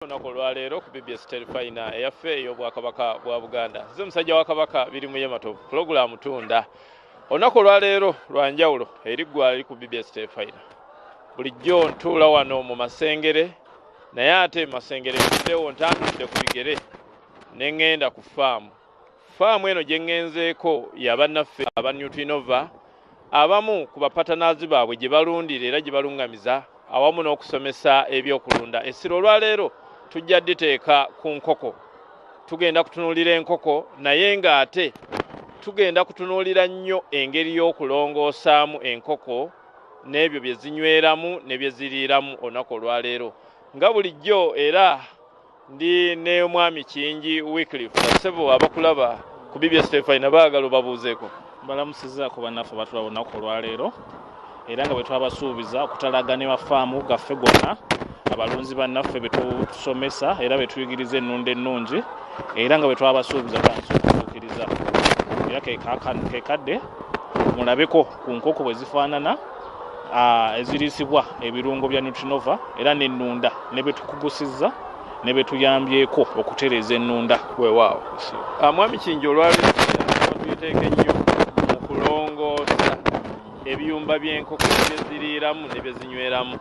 olunaku olwaleero ku bbs terifayina eyaffe ey'obwakabaka bwa buganda nze musajja wa kabaka biri mu yematovu pulogulaamu tunda olunaku olwaleero lwa njawulo eri ggwalali ku bbs terifayina bulijjo ntuula wano mu masengere naye ate mu masengere muddewo ntandudde ku bigere ne ŋŋenda ku faamu Faamu eno gye ŋŋenzeeko ya bannaffe aba Nutrinova abamu ku bapatanaazi baabwe gye balundira era gye balungamiza awamu n'okusomesa ebyokulunda. Essira olwaleero tujja diteeka ku nkoko. Tugenda kutunuulira enkoko naye ng'ate tugenda kutunuulira nnyo engeri y'okulongoosaamu enkoko n'ebyo bye zinyweramu ne bye ziriiramu olunaku olwaleero. Nga bulijjo era ndi ne omwami kingi wyclif basebo abakulaba ku bbs tefina baagala obabuuzeeko balamusizaako bannaffe batula lunaku olwaleero era nga bwe twabasuubiza okutalaga ne mafaamu gaffe gonna abalunzi bannaffe betusomesa era betuyigiriza ennunda ennungi era nga bwe twabasuubiza tandisa okutuukiriza era kekadde mulabeko ku nkoko bwe zifaanana eziriisibwa ebirungo bya nutrinova era nenunda nebetukugusizza nebetuyambyeko okutereeza enunda wewaawo ah, mwami kingi olwalituteeka ennyo mu kulongoosa ebiyumba byenkoko byeziriiramu nebyezinyweramu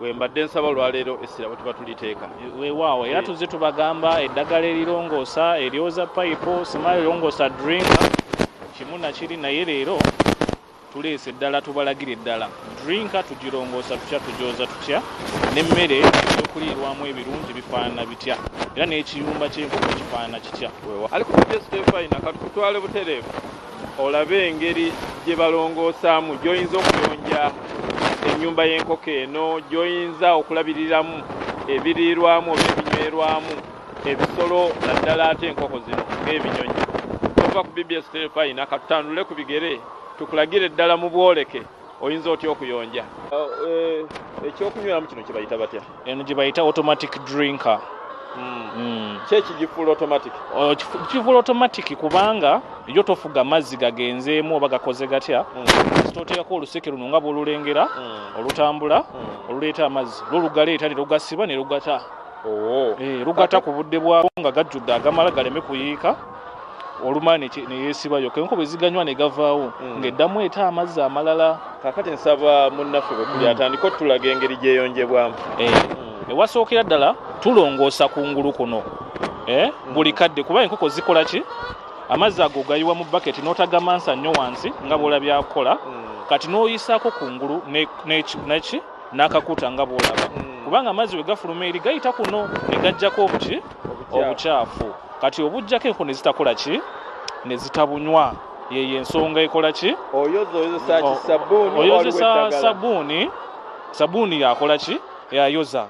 wembadde nsaba olwaleero essira bwetuba tuliteeka wewaawo era tuzze tubagamba eddagala erirongoosa eryoza payipo simayo erongoosa dringa kimu nakiri naye leero Tuleese ddala tubalagire ddala drinka tugirongoosa tutya, tugyoza tutya, n'emmere eyokuliirwamu ebirungi bifaanana bitya, era n'ekiyumba ky'enkoko kifaanana kitya. Ali ku Bigest Fina ka tukutwale butereevu olabe engeri gye balongoosaamu, gy'oyinza okuyonja ennyumba y'enkoko eno, gy'oyinza okulabiriramu ebiriirwamu oba ebinywerwamu. ebisolo naddala ate enkoko zino ng'ebinyonyi tova ku bbs terefayina katutandule ku bigere tukulagire ddala mu bwoleke oyinza otya okuyonja eh, ekyokunyweramu kino kyebayita batya eno gyebayita automatic drinker hmm. Hmm. kyekigifuula automatic oh, kifuula automatic kubanga yo tofuga mazzi gagenzeemu oba gakoze gatya hmm. toteekako oluseke luno nga bwolulengera olutambula oluleeta amazzi lwo lugaleeta ne lugasiba ne lugata oh. eh, lugata ku budde bwabo nga gajjudde agamala galeme kuyiika olumala neyesibayo kenko bweziganywa negavaawo hmm. ngaeddamu eta amazzi amalala kakati nsaba munnaffe bwetuli hmm. atandika otulaga engeri gyeyonjebwamu eh, hmm. ewasookera ddala tulongoosa ku ngulu kuno eh, buli kadde kuba enkoko zikola ki amazzi ago gayiwa mu baketi n'otagamansa nnyo wansi nga bwolabyakukola kati n'oyisaako ku ngulu neki n'akakuta nga bw'olaba hmm. kubanga amazzi bwe gafuluma eri gayita kuno ne gajjako obuki obukyafu kati obujjako enku ne zitakola ki ne zitabunywa yeyo ensonga ekola ki oyozesa sabuuni sabuuni yakola ki yayoza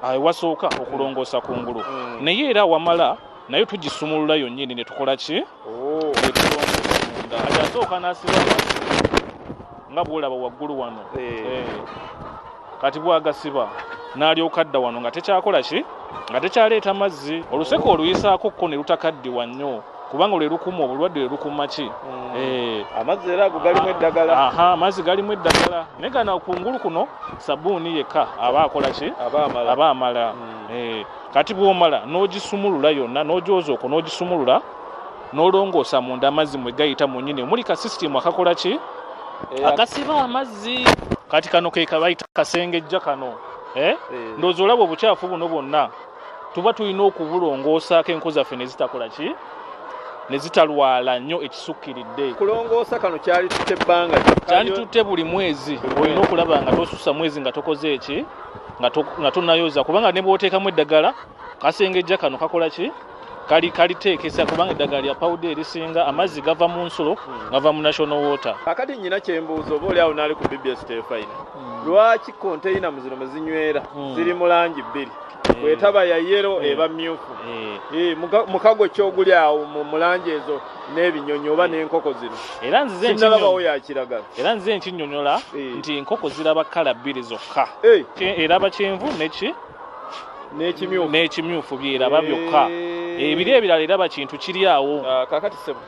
awe wasooka okulongoosa ku ngulu mm. naye era wamala naye tugisumulula yonnyini ne tukola ki oh. asooka nasiba nga bwolaba waggulu wano eh. Eh. kati bwagasiba n'alyoka dda wano nga tekyakola ki nga tekyaleeta mazzi oluseke oluyisaako kko ne lutakaddiwa nnyo kubanga lwe lukuma obulwadde lwe lukuma ki mm. eh. amazzi era ago galimu eddagala amazzi galimu eddagala naye gana kungulu kuno sabuuni yekka aba akola ki aba amala mm. eh. kati bwomala n'ogisumulula yonna n'ogyoza okwo n'ogisumulula n'olongoosa munda amazzi mwe gayita mu nyini omuli ka sisitimu akakola ki eh, akasiba amazzi kati kano kekabayita kasengejja kano ndowooza olaba obucaafu buno bwonna tuba tulina okubulongoosaako enku zaffe ne zitakola ki ne zitalwala nnyo ekisukkiridde kulongoosa kano kyali tutte ebbanga kyali tutte buli mwezi olina okulaba nga tosusa mwezi nga tokoze eki nga tonayoza kubanga ne bwoteekamu eddagala kasengejja kano kakola ki kali kaliteekesa kubanga eddagala lya pawuda erisinga amazzi gava mu nsulo hmm. gava mu national water akati nyina kyembuuza oba oli awo naali ku bbs tefayina hmm. lwaki konteyina mu zino mwe zinywera hmm. ziri mu langi bbiri Eh. bwetaba ya yero eh. eba myufu eh. mukago kyoguli awo mulangi ezo n'ebinyonyi oba n'enkoko zino sinalabawo yakiragala era nze nkinyonyola nti enkoko ziraba kala bbiri zokka eraba kyenvu neki n'ekimyufu byeraba byokka ebiri ebirala eraba kintu kiri awo ah, kakati sebo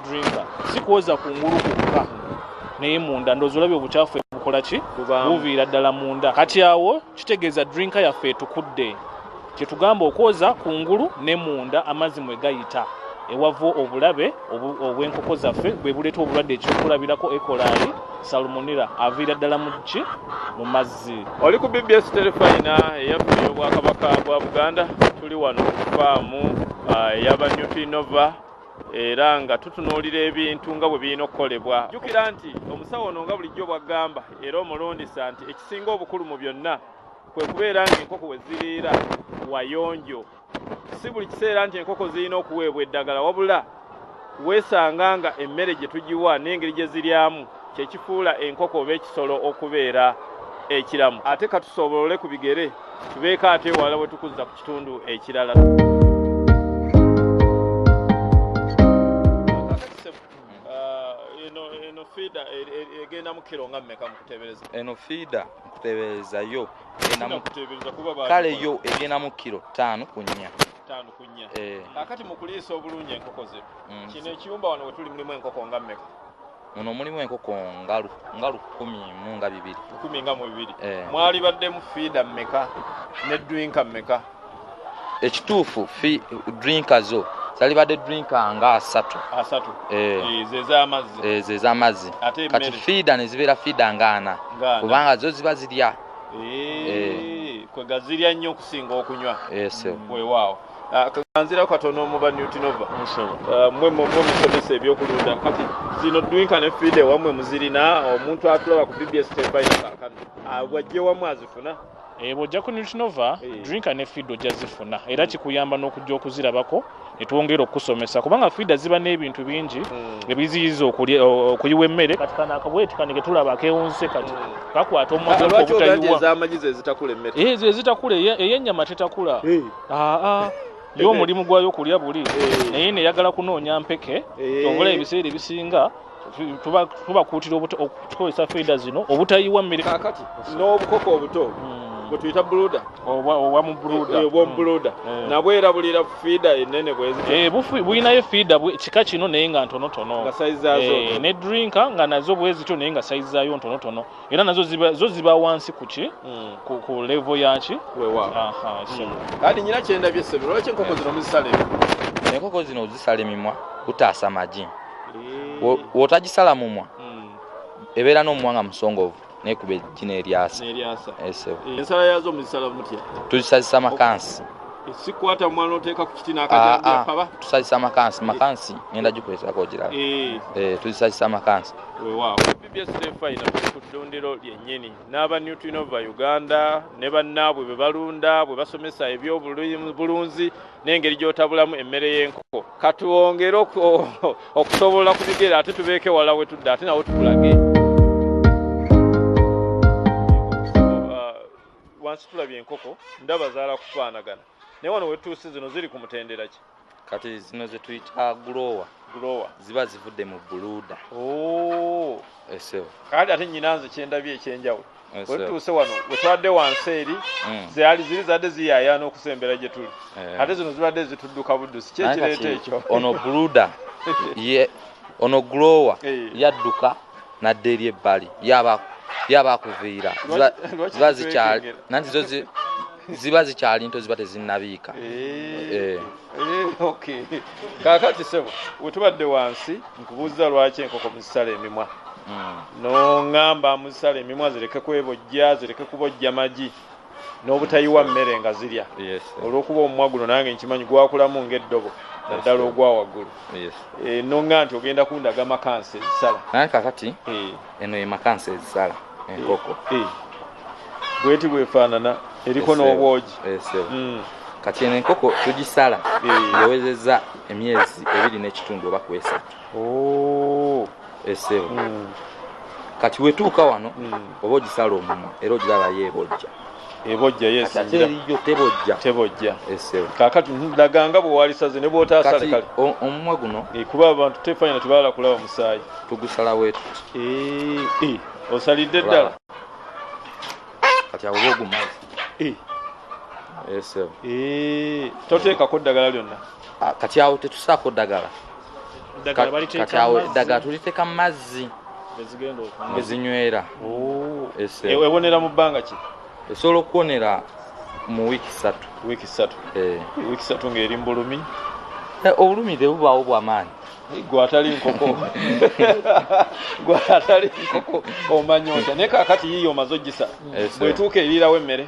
drinker si kwoza ku ngulu kwokka naye munda ndoozi olabye obukyafu ebukola ki buviira ddala munda kati awo kitegeeza drinka yaffe etukudde kye tugamba okwoza ku ngulu ne munda amazzi mwe gayita ewava obulabe obw'enkoko zaffe bwe buleeta obulwadde ekyokulabirako ekolaali salumunira aviira ddala mu ki mu mazzi oli ku bbs terefayina eyaffe ey'obwakabaka bwa buganda tuli wano ku faamu ah, eyaba newtinova era nga tutunuulira ebintu nga bwe birina okukolebwa jjukira nti omusawo ono nga bulijjo bwaggamba era omulundisa nti ekisinga obukulu mu byonna kwe kubeera ng'enkoko we ziriira wayonjo si buli kiseera nti enkoko zirina okuweebwa eddagala wabula weesanga nga emmere gye tugiwa n'engeri gye ziryamu kye kifuula enkoko oba ekisolo okubeera ekiramu ate katusobolole ku bigere tubeeko ate ewala we tukuzza ku kitundu ekirala egenda mu kiro nga mmeka mukutebereza eno fiida nkutebereza yo kale yo egenda mu kiro ttaano ku nnya ttaano ku nnya eh. kakati mu kuliisa obulungi enkoko ze mm. kino ekiyumba wano wetuli mulimu enkoko nga mmeka muno mulimu enkoko ngalu ngalu kumi mu nga bibiri kumi nga mu bibiri eh. mwali baddemu fiida mmeka ne drinka mmeka ekituufu fi drinka zo zali badde drinka nga asatu asatu eh. Eh, zezamazzi zezamazzi kati fiida ne zibeera fiida nga ana kubanga zo ziba zirya kwegazirya nnyo okusinga okunywa wewaawo Ah, kaganzira katono muba newtinova ah, mwe mwe musomesa ebyokulunda kati zino dwinka ne fide wamwe muzirina omuntu atulaba ku bbs tebainakakano ah, wajje wamwe azifuna eh, bwojja ku newtinova eh. drinka ne fide ojja zifuna era kikuyamba n'okujja okuzirabako netwongera okukusomesa kubanga fida ziba n'ebintu bingi hmm. ebiziyiza okuyiwa emmere kati kano akabweti kanike tulaba akewunse kati kakwata omwaezitakula eyenyama tetakula yo omulimu gwayo kulya buli eh. naye neyagala kunoonya mpeke eh. obula ebiseera ebisinga tubakuutira okukozesa feeda zino obutayiwa mmere kakati n'obukoko obuto hmm. bwetuyita buluda obwamubuluda eh, nabwe era bulira fiida enene bwezibulinayo fiida kika kino naye nga ntonotono ne drinka nga nazo bwezityo naye nga saizi zayo ntonotono era nazo ziba zo ziba wansi ku ki mm. ku, ku level ya ki wewa aha mm. sebo kati nyina kyenda bye sebo lwaki enkoko zino muzisale enkoko zino zisale mimwa utaasa maji eh. wotagisala mumwa mm. ebeera n'omuwanga musongovu naye kuba ejjina eryasa esebo eh, eh, ensala yazo muzisala mutya tuzisazisa makansi sikwata mwana oteeka ku kiti n'akajambakaba ah, ah. tusazisa makansi makansi ngenda gikozesako ogiraba tuzisazisa makansi wewaawo bbs day final tuli ku ddundiro lyennyini n'aba new twinova uganda ne bannaabwe bwe balunda bwe basomesa ebyobulunzi n'engeri gy'otabulamu emmere y'enkoko katwongere okusobola ku bigere ate tubeeke wala we tudde ate nawe tukulage wansi tulabye enkoko ndaba zaala kufaanagana naye wano wetuuse zino ziri ku mutendera ki kati zino zetuyita gulowa gulowa ziba zivudde mu buluda oh. esewo kati ate nyinanze kyendabye ekyenjawulo wetuuse wano wetwadde wansi eri mm. zeali ziri zadde ziyayana okusembera gye tuli eh. ate zino zibadde zitudduka buddusi kyekireeta ekyo ono buluda ono gulowa eh. yadduka nadda eri ebbali yaba akuviira ziba zikyali nanti zo ziba zikyali nto ziba tezinnabiika eh, eh. eh, kakati sebo wetubadde wansi nkubuuza lwaki enkoko muzisala emimwa hmm. noŋamba muzisala emimwa zireke kwebojja zireke kubojja magi n'obutayiwa mmere nga zirya olw'okuba omumwa guno nange nkimanyi gwakulamu ng'eddobo naddala ogwa waggulu noŋa nti ogenda kundaga makansi ezisala naye kakati eno ye makansi ezisala enkoko eh, eh. bweti bwefaanana eriko n'obwogi hmm. kati eno enkoko tugisala yawezeza eh. emyezi ebiri n'ekitundu oba kwesatu oh. esebo hmm. kati wetuuka wano hmm. oba ogisala omumwa era ogiraba yeebojja ebojja yesingiraebojja kakati laganga bwewalisaze ne bwotasale kale omumwa guno eh, kuba abantu tefanya nti baala kulaba musaayi tugusala wetu eh, eh, osalidde ddala kati abo bogumazi toteekako ddagala lyonna ah, kati awo tetusaako ddagala kati awo eddagala tuliteeka mu mazzi ezinywera oh. ewonera mu bbanga ki esobola okuwonera mu wiiki satu wiiki satu eh. wiiki satu ng'eri mu bulumi eh, obulumi tebubaawo bwamaanyi gwe atali nkoko gwe atali nkoko omanya otya naye kakati yiiyo omaze ojisa bwetuuka eriirawo emmere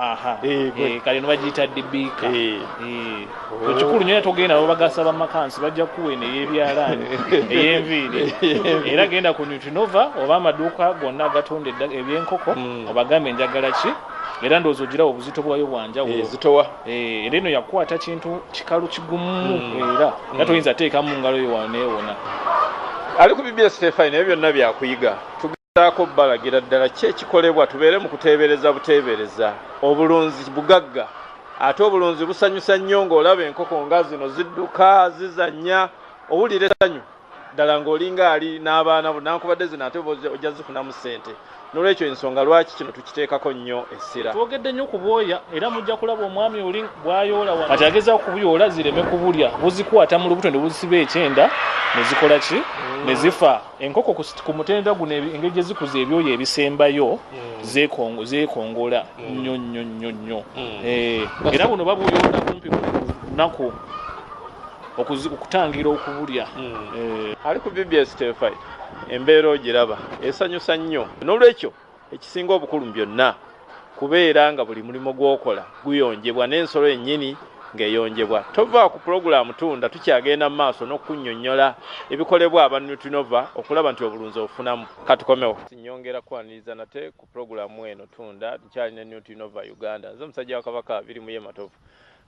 aha eh, eh, kale nobagiyita dibiika eh. oh. ekikulu nyo yatogenda babagasa bamakansi bajja kuwa eno eyebyalaani eyenviiri era genda ku nutrinova oba amaduuka gonna agatunda ebyenkoko hmm. obagambe enjagala ki era ndowooza ogirawo obuzito bwayo bwanjawulozitowa era eno yakukwata kintu kikalu kigumu hmm. era hmm. nga toyinza teekamu ngalo yo waneewona ali ku bbs tefai naye byonna byakuyiga Saako balagira ddala ki ekikolebwa tubeere mu kuteebereza buteebereza. Obulunzi bugagga ate obulunzi busanyusa nnyo ng'olaba enkoko nga zino zidduka zizannya owulira essanyu ddala ng'olinga ali n'abaana bo nankubadde zino ate ojja zifunamu ssente n'olwekyo ensonga lwaki kino tukiteekako nnyo essira. Twogedde nnyo ku bwoya era mujja kulaba omwami oli bw'ayoola wano kati agezaako kubuyoola zireme kubulya buzikwata mu lubuto ne buzisiba ekyenda ne zikola ki ne zifa. Enkoko ku mutendera guno engeri gye zikuza ebyoyo ebisembayo hmm. zeekongola hmm. nnyo nnyo nnyo nnyo hmm. eh, era buno babuyonda kumpi buli lunaku okutangira okubulya eh. ali ku bbs tefi embeera ogiraba esanyusa nnyo n'olwekyo Ekisinga obukulu mu byonna kubeera nga buli mulimu gw'okola guyonjebwa n'ensolo yennyini ng'eyonjebwa. Tova ku pulogulaamu Tunda tukyagenda mu maaso n'okukunnyonnyola ebikolebwa aba Nutrinova okulaba nti obulunzi obufunamu. Ka tukomewo. Nnyongera kukwaniriza nate ku pulogulaamu eno Tunda. Nkyali ne Nutrinova Uganda. Nze musajja wa Kabaka Birimuye Matovu.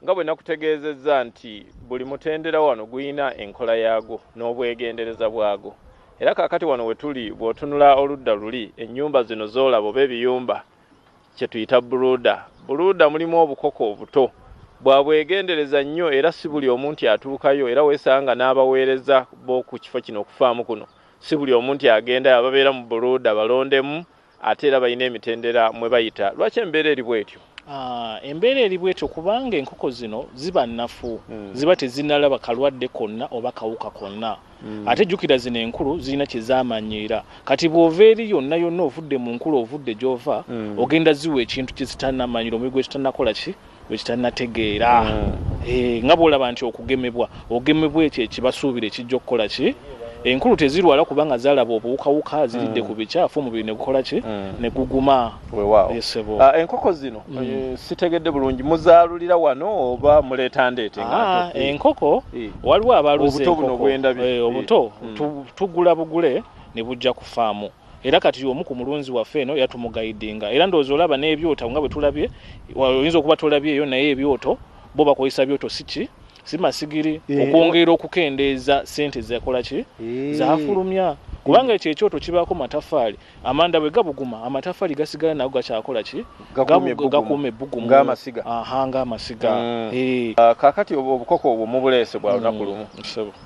Nga bwe nakutegeezezza nti buli mutendera wano gulina enkola yaagwo n'obwegendereza bwagwo era kaakati wano we tuli bw'otunula oludda luli ennyumba zino z'olaba oba ebiyumba kye tuyita buluuda. Buluuda mulimu obukoko obuto bwa bwegendereza nnyo era si buli omu nti atuukayo era weesanga n'abaweereza b'oku kifo kino okufaamu kuno si buli omu nti agendayo ababeera mu buluuda balondemu Ate era balina emitendera mwe bayita. Lwaki embeera eri bwetyo? Ah, embeera eri bwetyo kubanga enkoko zino ziba nnafu hmm. ziba tezinalaba kalwadde konna oba kawuka konna hmm. ate jjukira zino enkulu zirina kyezamanyiira kati bw'ova eri yonna yonna ovudde mu nkulu ovudde gy'ova hmm. ogenda ziwa ekintu kyezitanamanyira omuli gwekitanakola ki bwekitanategeera mm. eh, nga bwolaba nti okugemebwa ogemebwa ekyo ekibasuubira ekijja okukola ki enkulu tezirwala kubanga zalaba obuwukawuka ziridde mm. ku bikyafu omubiri negukola ki mm. neguguma esebo ah, enkoko zino mm. eh, sitegedde bulungi muzaalulira wano oba muleeta ndeete ah, enkoko eh. waliwo abaluza enkoko obuto eh, tugula bugule ne bujja ku faamu era kati omu ku mulunzi waffe eno yatumugayidinga era ndowooza olaba n'ebyoto nga bwe tulabye oyinza okuba tolabyeyo naye ebyoto bo bakozesa byoto siki si masigiri eh, okwongera okukendeeza sente zekola ki eh. zafulumya kubanga ekyo ekyoto kibaako matafaali amanda bwe gabuguma amatafaali gasigala nago gakyakola ki gakuuma ebbugumu ng'amasiga mm. eh. ah, kakati obukoko obwo mubuleese bwa lunaku mm. lumu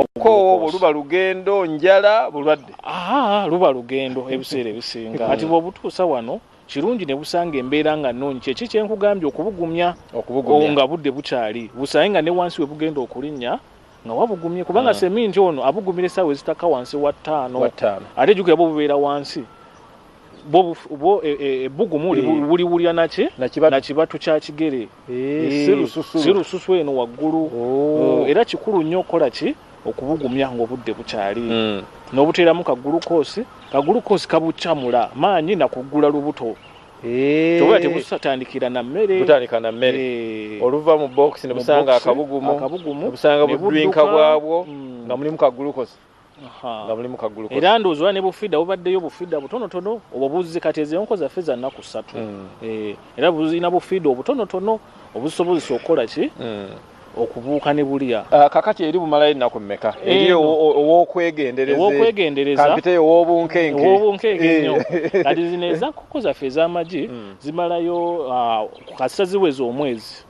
okukoowa obwo luba lugendo njala bulwadde aa luba lugendo ebiseera ebisinga kati bwobutuusa wano kirungi ne busanga embeera nga nnungi kyeki kyenkugambye okubugumya nga budde bukyali busange nga ne wansi we bugenda okulinnya nga wabugumye kubanga hmm. seminti ono abugumira essaawa ezitaka wansi wa ttaano ate jukira bwo bubeera wansi bwo ebbugumu e, e, e, buliwulira naki nakibatu kya kigere Eh, eh, si lususu si lususu eno waggulu oh. eh, era kikulu nnyo okukola ki okubugumya ngaobudde bukyali mm. n'obuteeramu kagulukoosi kagulukoosi kabucamula maanyi nakuggula lubuto toba tebusatandikira na mmere butandika na mmere oluva mu box ne busanga akabugumu akabugumu busanga budrinka bwabwo mm. nga mulimu kagulukoosi nga mulimu kagulu era ndowooza oba ne bufida bubaddeyo bufida butonotono obwo buzzi kati ezo enko zaffe za nnaku ssatu mm. eh, era buzirina bufida obutonotono obusobozesa okukola ki mm. okubuuka ne bulya ah, kakati eri bumalayo ennaku mmeka eri owokwegenderezampiteyo owobunkenke owobunkenke eh. nnyo kati zino ezankoko zaffe ez'amagi mm. zimalayo ah, ku kasita ziweza omwezi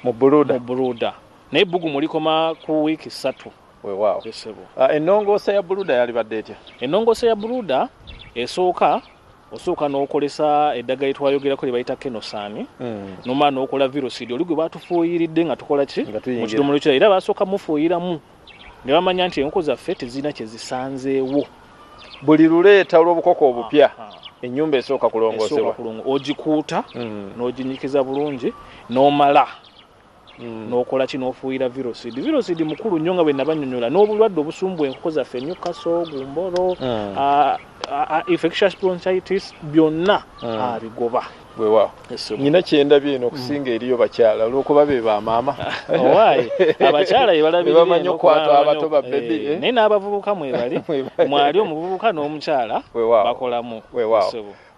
mu buluda naye ebbugumu likoma ku wiiki ssatu Wewaawo ssebo. Ah, ennongoosa ya buluda yalibadde etya? Ennongoosa ya buluda esooka osooka n'okolesa eddagala etwayogerako lyebayita kenosaani hmm. nomala n'okola virosidi oli gwe batufuuyiridde nga tukola ki mu kidomola ekirala era basooka mufuuyiramu ne bamanya nti enkoko zaffe tezirina kye zisanzeewo buli luleeta olw'obukoko obupya ah, ah. ennyumba esooka kulongoosebwa ogikuuta hmm. n'oginyikiza bulungi n'omala Mm. nokola ki nofuuyira virosid virosid mukulu nnyo nga bwe nabanyonyola n'obulwadde obusumbu enkoko zaffe nyukaso gumbolo mm. infectious bronchitis byonna mm. abigoba wewa nyina kyendabye eno okusinga eriyo bakyala olwokuba be bamaama abakyala yebalabamanyi okwata abato babebi eh, eh? naye n'abavubuka mwebali mwali omuvubuka n'omukyala bakolamu wewa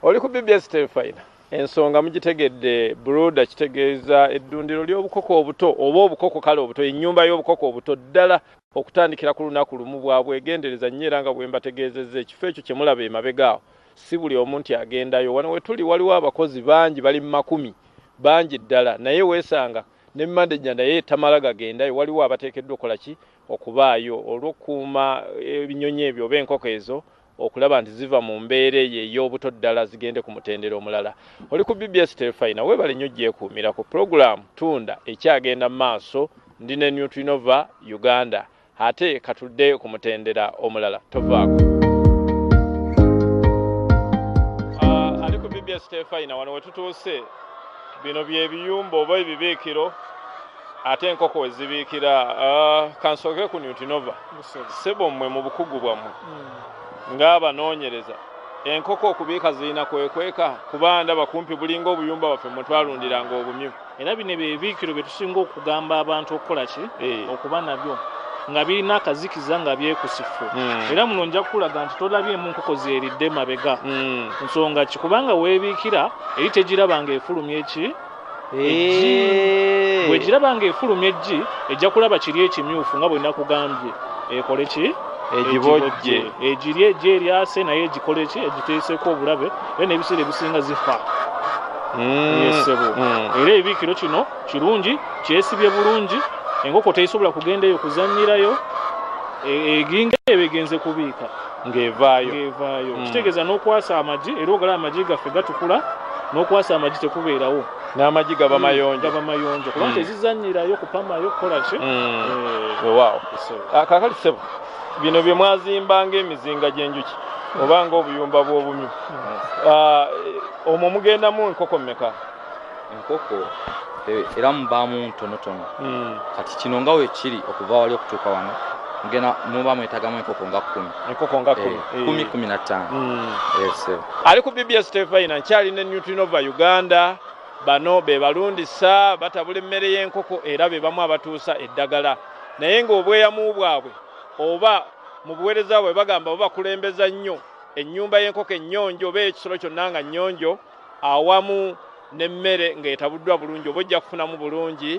oli ku bbs telefina Ensonga mugitegedde broda kitegeeza eddundiro ly'obukoko obuto oba obukoko kale obuto ennyumba y'obukoko obuto ddala okutandikira ku lunaku lumu bwa bwegendereza nnyo era nga bwe mbategeezezza ekifo ekyo kye mulaba emabega awo si buli omu nti agendayo wano we tuli waliwo abakozi bangi bali mu makumi bangi ddala naye weesanga ne manejja naye tamala gagendayo waliwo abateekeddwa okukola ki okubaayo olw'okukuuma ebinyonyi ebyo oba enkoko ezo okulaba nti ziva mu mbeera eyo ey'obuto ddala zigende ku mutendera omulala. Oli ku BBS Terefayina, weebale nnyo gyekuumirako. Pulogulaamu Tunda ekyagenda mu maaso, ndi ne Nutrinova Uganda. Ate katudde ku mutendera omulala, tovaako. Uh, ali ku BBS Terefayina, wano we tutuuse, bino bye biyumba oba ebibiikiro ate enkoko wezibiikira ah, kansooke ku newtinova sebo mmwe mu bukugu bwammwe hmm. ng'abanoonyereza enkoko okubiika zirina kwekweka kuba ndaba kumpi bulinga obuyumba baffe mwe twalundiranga obumyu era bino ebyo ebiikiro bye tusinga okugamba abantu okukola ki eh. okuba nabyo nga birina akazikiza nga byekusifu hmm. era muno nja kukulaga nti tolabyemu nkoko zeeridde mabega hmm. nsonga ki kubanga weebiikira eri tegiraba nga efulumya eki eggi bwegiraba nga efulumya eggi ejja kulaba kiri ekimyufu nga bwe nakugambye ekole ki egibojje egiri eggi eryase naye egikole ki egiteeseeko obulabe era n'ebiseera ebisinga zifa mm. yesebo mm. era ebiikiro kino kirungi kyesibye bulungi enkoko teyisobola kugenda eyo kuzanyirayo e, eginga ebegenze kubiika ng'evaayo ng'evaayo mm. kitegeeza n'okwasa amagi era ogala amagi gaffe gatukula n'okwasa amagi tekubeerawo n'amagi gaba mm, mayonjo gaba mayonjo kubanga mm. tezizanyirayo kupamayo kukola ki wewaawo eh. ah, kakali sebo bino bye mwazimba ng'emizinga gy'enjuki oba ng'obuyumba bw'obumyu ah, omwo mugendamu enkoko mmeka enkoko e, era mubaamu ntonotono hmm. kati kino nga wekiri okuva wali okutuuka wano ngena muba mwetagamu enkoko nga kumi enkoko nga kumi eh, eh. kumi kumi na ttaano hmm. eh, ali ku bbs tefayina nkyali ne newtrinova uganda bano be balundisa batabula emmere y'enkoko era be bamu abatuusa eddagala naye ng'obweyamu bwabwe oba mu buweereza bwe bagamba babakulembeza nnyo ennyumba y'enkoko ennyonjo oba ekisolo kyonna nga nnyonjo awamu n'emmere ng'etabuddwa bulungi oba ojja kufunamu bulungi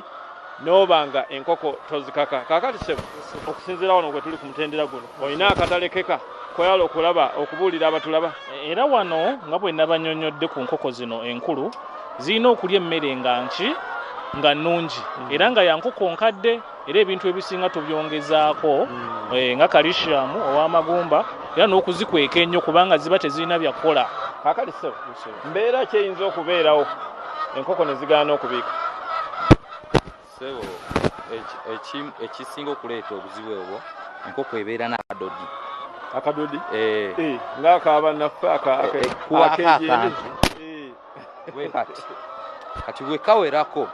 n'oba nga enkoko tozikaka kaakati sebo okusinziira wano gwe tuli ku mutendera guno olina akatalekeka koyala okulaba okubuulira abatulaba era wano nga bwe nabanyonyodde ku nkoko zino enkulu zirina okulya emmere nga nki nga nnungi era nga yankoko nkadde era ebintu ebisinga tubyongezaako hmm. eh, nga kalishiamu ow'amagumba era n'okuzikweka ennyo kubanga ziba tezirina byakukola kakali sebo mbeera kyeyinza okubeerawo enkoko ne zigaana okubiika sebo ekisinga okuleeta obuzibu obwo enkoko ebeera n'akadodi akadodi eh. eh, ng'akaabannaffe akakejendi kati wekawerako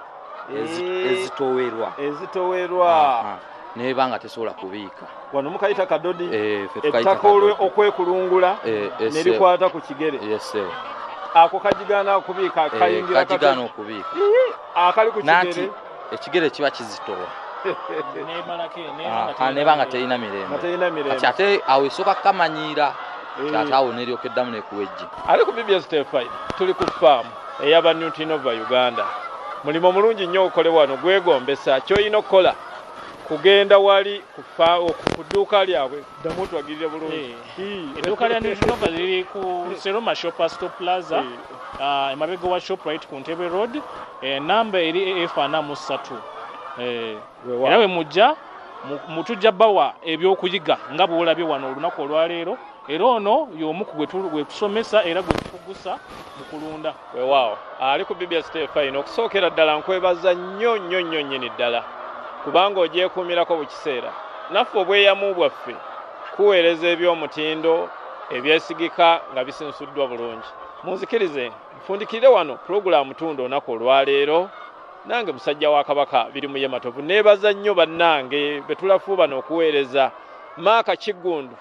eh. ezitowerwa ezitowerwa ah, ah. neba nga tesobola kubiika wano mukayita kadodi eh, ettaka olwe okwekulungula eh, nerikwata ku kigere ako kajigaana okubiika kayingira kati akajigaana okubiika akali ku kigere ekigere kiba kizitowa ah, neba nga terina mirembe kati ate awo esooka kukamanyiira eh. ate awo neryoka eddamu nekuwejje ali ku bbs tefi tuli ku faamu eyaba newtinova uganda mulimu omulungi nnyo okole wano gwegombesa kyolina okukola kugenda wali ku dduuka lyabwe Ddamu otwagirire bulungi. Eh, edduuka lya Nutrinova liri ku Seroma Shopper Stop Plaza eh. ah, emabega wa Shoprite ku Ntebe Road enamba eh, eri AF ana mu ssatu era we mujja mutujja bawa ebyokuyiga nga bwolabye wano olunaku olwaleero era ono y'omu ku gwe tusomesa era gwe tukugusa mu kulunda Wewaawo ali ku BBS TFI n'okusookera ddala nkwebaza nnyo nnyo nnyo nnyini ddala kubanga ogyekuumirako buli kiseera naffe obweyamu bwaffe kuweereza eby'omutindo ebyesigika nga bisinsuddwa bulungi munzikirize nfundikirire wano pulogulaamu tunda onaku olwaleero nange musajja wa kabaka biri muye matovu neebaza nnyo bannange betulafuubana okuweereza maaka kiggundu